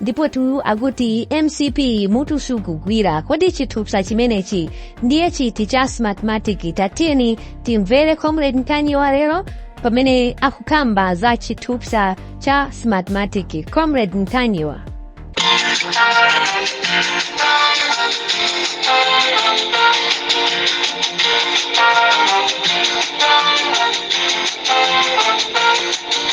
ndipo tu akuti mcp mutu sukugwira kodi chithupsa chimenechi ndiye chiti cha smartmatic tatiyeni timvere comrade Ntanyiwa lero pamene akukamba za chithupsa cha smartmatic comrade ntanyiwa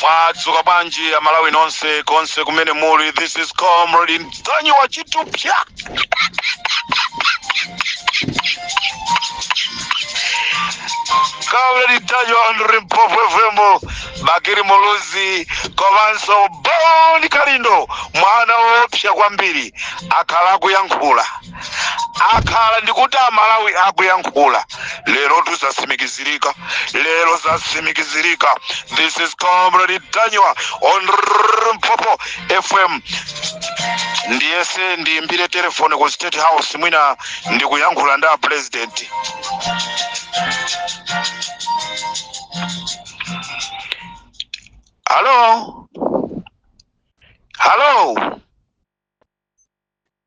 mwadzuka bwanji amalawi nonse konse kumene muli this is comrade Ntanyiwa chithupsa comrade Ntanyiwa on Limpopo FM Bakili muluzi komanso boni kalindo mwana woopsa kwambiri akhala akuyankhula akhala ndikuti amalawi akuyankhula lerotu zatsimikizirika lero zatsimikizirika this is comrade Ntanyiwa on Limpopo fm ndiyese ndiyimbire telefoni ku state house mwina ndikuyankhula ndi a president halo halo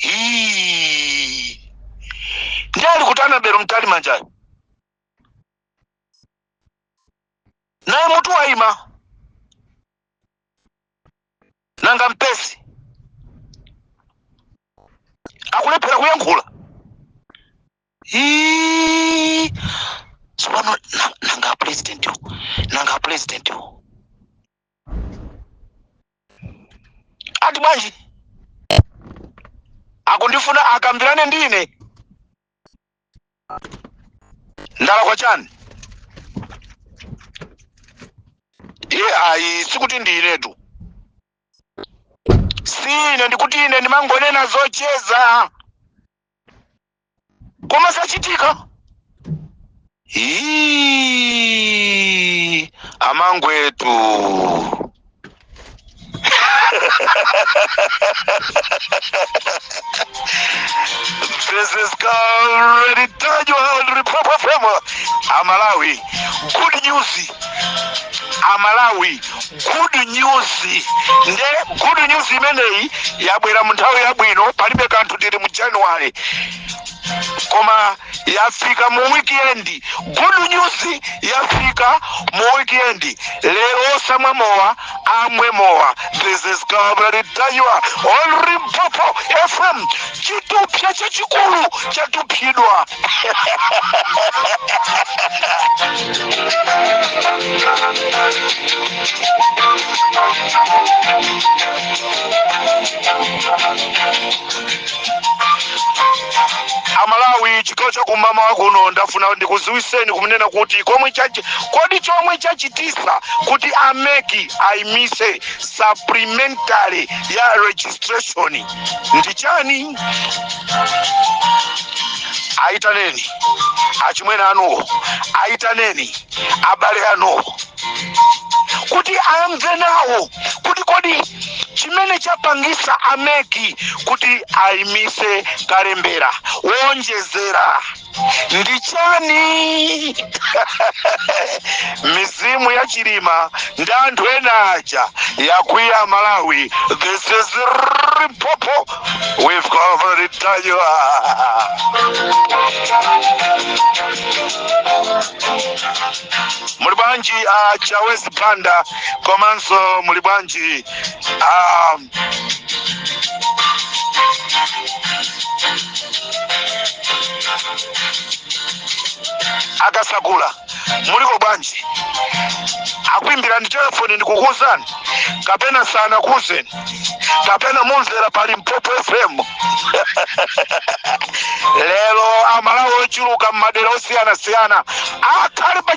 Hii. Ndi alikutani Mbewe Mtalimanja ii naye mutu waima nanga mpesi akulephera kuyankhula Hii. tsopano na- nanga president nanga president ati bwanji akundifuna akambirane ndi ine ndalakwa chani iye ayi sikuti ndi inetu si ine ndikuti ine ndimangonena zocheza koma zachitika Iiii, amangwetu This is already done. You are already proper. Amalawi, good news. Amalawi. good news nde good news imeneyi yabwera mu nthawi yabwino palibe kanthu tili mu january koma yafika mu weekend good news yafika mu weekend lero osamwa mowa amwe mowa this is Comrade Ntanyiwa on Limpopo fm chithupsa chachikulu chatuphidwa amalawi chigawo chakumama kuno ndafuna ndikuziwiseni kumunena kuti komwe chachi kodi chomwe chachitisa kuti ameki ayimise supplementary ya registration ndi chani ayitaneni achimwene anuwo ayitaneni abale anuwo kuti amve nawo kuti kodi chimene chapangisa a MEC kuti ayimise kalembera wonjezera ndi chani mizimu ya chilima ndi anthu ena aja yakwiya malawi this is Limpopo we've already done you muli bwanji a chawezi banda komanso muli bwanji a akasakula muliko bwanji akuimbirani telefoni ndikukuuzani kapena sanakuuzeni kapena mumvera pa Limpopo fm lero amalawi ochuluka m'madera osiyanasiyana akhale pa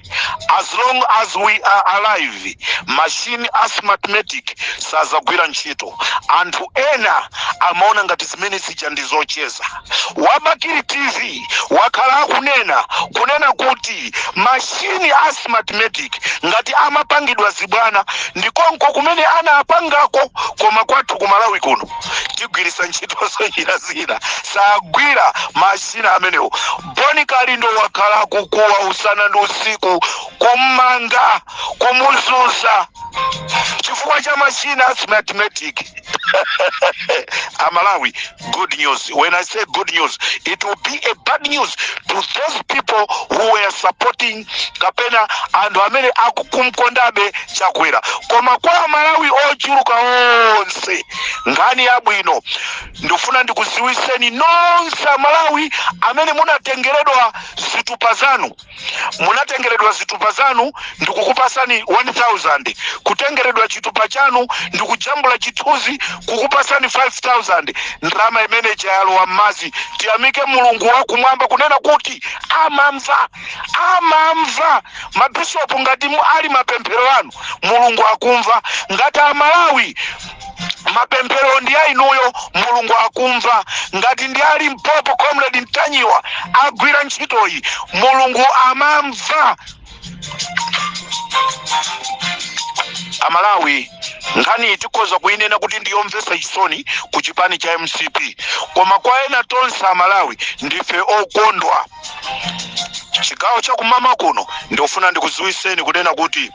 as long as we are alive machine a smartmatic sadzagwira ntchito anthu ena amaona ngati zimene zija ndi zocheza wa Bakili tv wakhala akunena kunena kuti mashini a smartmatic ngati amapangidwa zibwana ndikonko kumene anaapangako koma kwathu ku malawi kuno tigwiritsa ntchito njira zina sagwira mashini amenewo Bon kalindo wakhala akukuwa usana ndi usiku kummanga kumuzuza chifukwa cha machina a smartmatic amalawi good news when i say good news it will be a bad news to those people who were supporting kapena anthu amene akukumkondabe chakwera koma kwa amalawi ochuluka onse nkhani yabwino Ndufuna ndikudziwitseni nonse amalawi amene munatengeredwa zitupa zanu munatengeredwa zitupa zanu ndikukupatsani 1000 kutengeredwa chitupa chanu ndikujambula chithunzi kukupatsani 5000 ndalama imene ija yalowa mmadzi tiyamike mulungu wakumwamba kunena kuti amamva amamva mabishopu ngati ali mapemphero anu mulungu akumva ngati amalawi mapemphero ndi a inuyo mulungu akumva ngati ndi a Limpopo comrade Ntanyiwa agwira ntchitoyi mulungu amamva amalawi nkhaniyi tikhoza kuyinena kuti ndiyomvetsa chisoni ku chipani cha mcp koma kwa ena tonse amalawi ndife okondwa chigawo cha kummawa kuno ndikufuna ndikudziwitseni kunena kuti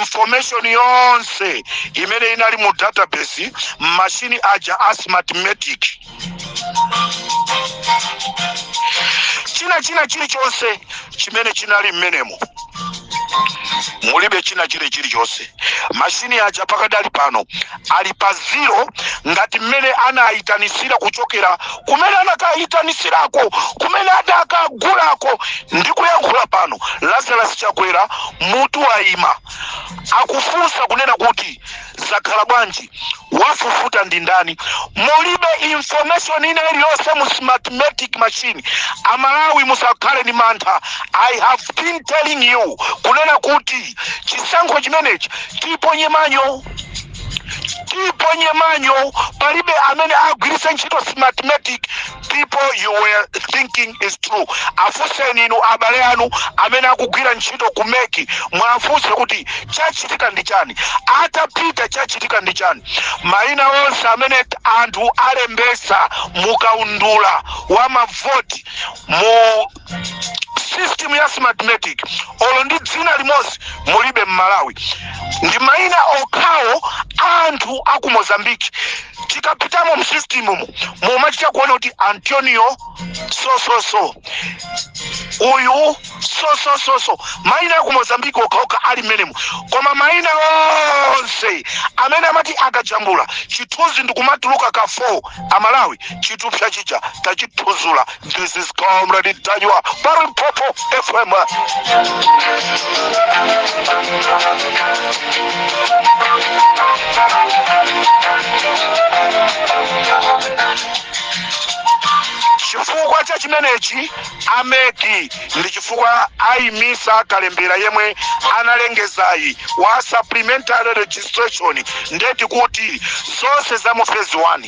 information yonse imene inali mu database mmashini aja a smartmatic china china chilichonse chimene chinali mmenemo mulibe china chile chilichonse mashini aja pakadali pano ali pa zero ngati mmene anayitanisira kuchokera kumene anakayitanisirako kumene adakagulako ndi kuyankhula pano lazarus chakwera mutu wayima akufunsa kunena kuti zakhala bwanji wafufuta ndi ndani mulibe information ina iliyonse mu smartmatic machine amalawi musakhale ndi mantha i have been telling you kunena kuti chisankho chimenechi tiponye manja tiponye manja palibe amene agwiritse ntchito smartmatic people you were thinking is true afunseni inu abale anu amene akugwira ntchito ku MEC mwafunse kuti chachitika ndi chani atapita chachitika ndi chani mayina onse amene anthu alembesa mukaundula wa mavoti mu system ya smartmatic olo ndi dzina limodzi mulibe mmalawi ndi maina okhawo anthu a ku mozambique tikapitamo mu systemu mumachita kuona kuti antonio sososo uyu sosososo maina aku mozambique okhaokha ali mmenemo koma maina onse amene amati akajambula chithunzi ndikumatuluka ka form amalawi chitupsa chija tachithudzula This is Comrade Ntanyiwa, pa Limpopo FM. chifukwa cha chimenechi a MEC ndi chifukwa ayimisa kalembera yemwe analengezayi wa supplementary registration ndeti kuti zonse za mu phase 1